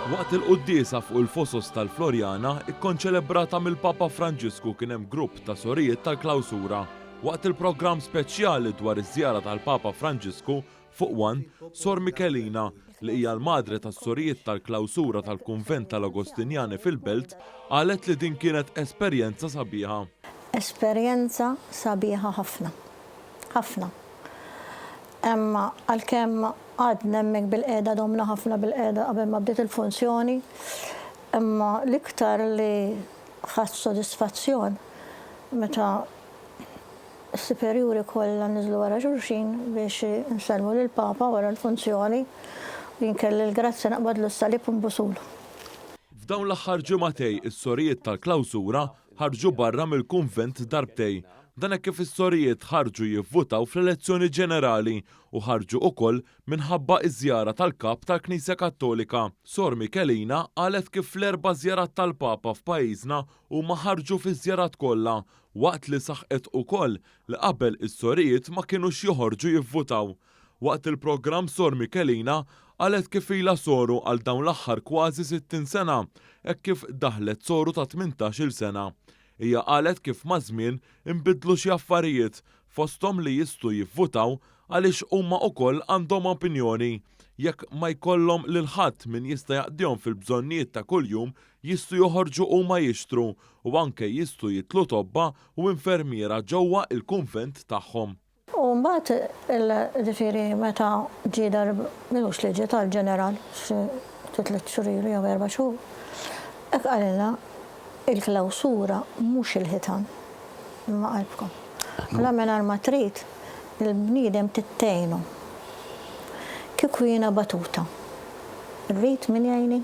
Waqt il-quddiesa fuq il-fosos tal-Floriana, ikkonċelebrata mill-Papa Franġisku kien hemm grupp ta' sorijiet tal-klawsura. Waqt il-programm speċjali dwar iż-żjara tal-Papa Franġisku fuq One, Sor Michelina, li hija l-madre tas-sorijiet tal-klawsura tal-kunvent tal-Agostinjani fil-Belt, qalet li din kienet esperjenza sabiħa. Esperjenza sabiħa ħafna. ħafna. Hemm għalkemm għadni hemmhekk bilqiegħda domna ħafna bilqiegħda qabel ma bdiet il-funzjoni, imma l-iktar li ħadt sodisfazzjon meta s-siperjuri kollha niżlu wara xulxin biex insellmu lill-Papa wara l-funzjoni u jien kelli l-grazzja naqbadlu s-salib u nbusulu. F'dawn l-aħħar ġimagħtej is-sorijiet tal-klawsura Ħarġu barra mill-kunvent darbtejn. Dan hekk kif is-sorijiet ħarġu jivvutaw fl-elezzjoni ġenerali u ħarġu ukoll minħabba iż-żjara tal-Kap tal-Knisja Kattolika. Sor Michelina qalet kif fl-erba' żjarat tal-Papa f'pajjiżna huma ħarġu fiż-żjarat kollha, waqt li saħqet ukoll li qabel is-sorijiet ma kinux joħorġu jivvutaw. Waqt il-programm Sor Michelina qalet kif ilha soru għal dawn l-aħħar kważi 60 sena hekk kif daħlet soru ta' tmintax-il sena. Hija qalet kif maż-żmien inbidlu xi affarijiet, fosthom li jistgħu jivvutaw għaliex huma ukoll għandhom opinjoni, jekk ma jkollhom lil ħadd min jista' jaqdihom fil-bżonnijiet ta' kuljum jistgħu joħorġu huma jixtru u anke jistgħu jitlu tobba u infermiera ġewwa il-kunvent tagħhom. U mbagħad il ġifieri meta ġie dar mhux li ġie dar ġeneral xi tliet xhur ilu jew erba' xhur, hekk qalilna il-klawsura mhux il-ħitan imma qalbkom. Allura mingħajr ma trid il-bniedem tgħinu. Kieku jiena batuta, irrid min jgħinni?